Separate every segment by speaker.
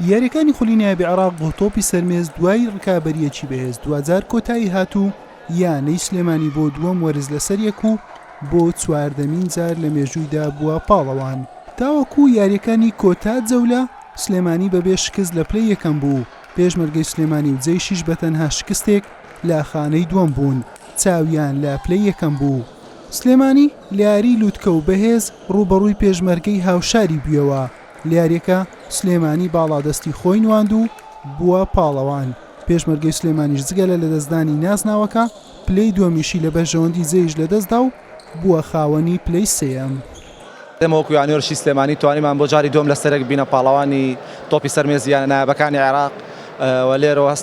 Speaker 1: یارییەکانی خولی نایابی عێراق بۆ تۆپی سەرمێز دوای ڕکابەریەکی بەهێز دواجار کۆتایی هات و یانەی سلێمانی بۆ دووەم وەرز لەسەر یەک و بۆ چواردەمین جار لە مێژوویدا بووە پاڵەوان تاوەکو یاریەکانی کۆتا جەولە سلێمانی بەبێ شکست لە پلەی یەکەم بوو پێشمەرگەی سلێمانی و جەیشیش بەتەنها شکستێک لە خانەی دووەم بوون چاویان لە پلەی یەکەم بوو. سلێمانی لە یاریی لوتکە و بەهێز رووبەڕووی پێشمەرگەی هاوشاری بویەوە، لە یارییەکە سلێمانی باڵادەستی خۆی نواند و بووە پاڵەوان، پێشمەرگەی سلێمانیش جگە لە لەدەستدانی نازناوەکە، پلەی دووەمیشی لە بەرژەوەندی جەیش لەدەستدا و بووە خاوەنی پلەی سێیەم. ئێمە وەکو
Speaker 2: یانەی ورزشی سلێمانی توانیمان بۆ جاری دووەم لەسەرێک ببینە پاڵەوانی تۆپی سەر مێزی یانە نایابەکانی عێراق و لێرەوە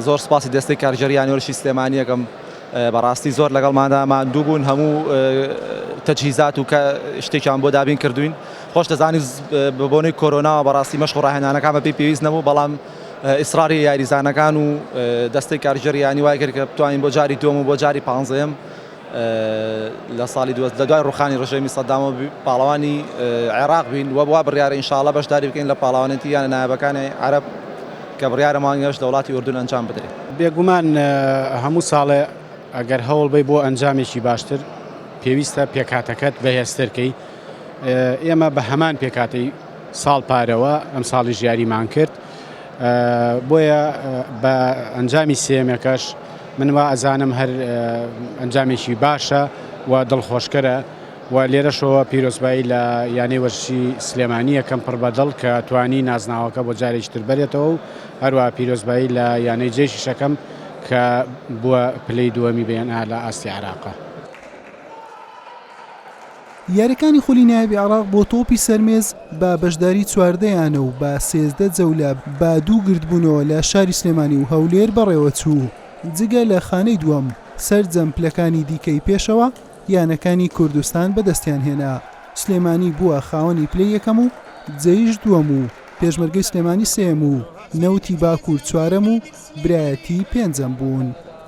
Speaker 2: زۆر سپاسی دەستەی کارگێڕی یانەی ورزشی سلێمانی یەکەم بەڕاستی زۆر لەگەڵماندا ماندوو بوون هەموو تەجهیزات و کە شتێکیان بۆ دابین کردوین خۆش دەزانی بە بۆنەی کۆرۆناوە بەڕاستی مەشق و ڕاهێنانەکان بەپی پێویست نەبوو بەڵام ئیسراری یاریزانەکان و دەستەی کارگێڕیانی وای کرد کە بتوانین بۆ جاری دووەم و بۆ جاری پانزەیەم لە ساڵی دوو هەزار لە دوای ڕووخانی ڕژێمی سەدامەوە پاڵەوانی عێراق بین و وا بڕیارە ان شاء اللە بەشداری بکەین لە پاڵەوانێتی یانە نایابەکانی عەرەب کە بڕیارە مانگی هەشت لە وڵاتی ئوردن ئەنجام بدرێت. بێگومان
Speaker 3: هەموو ساڵێ ئەگەر هەوڵ بەی بۆ ئەنجامێکی باشتر پێویستە پێکهاتەکەت بەهێزتر کەی ئێمە بە هەمان پێکاتی ساڵ پارەوە ئەم ساڵی ژیاریمان کرد بۆیە بە ئەنجامی سێمێکەش من وا ئەزانم هەر ئەنجامێکی باشە و دڵخۆشکەرە و لێرەشەوە پیرۆزبایی لە یانەی وەرزشی سلێمانی یەکەم پڕ بە دڵ کە توانی نازناوەکە بۆ جارێکی تر بەرێتەوە و هەروە پیرۆزبایی لە یانەی جێشی شەکەم کە بووە پلەی دووەمی بەیەن ئا لە ئاستی عێراقە.
Speaker 1: یارییەکانی خولی نایابی عێراق بۆ تۆپی سەر مێز بە بەشداری چواردە یانە و بە سێزدە جەولە بە دوو گردبوونەوە لە شاری سلێمانی و هەولێر بەڕێوەچوو، جگە لە خانەی دووەم، سەرجەم پلەکانی دیکەی پێشەوە یانەکانی کوردستان بەدەستیان هێنا، سلێمانی بووە خاوەنی پلەی یەکەم و جەیش دووەم و پێشمەرگەی سلێمانی سێیەم و نەوتی باکوور چوارەم و برایەتی پێنجەم بوون.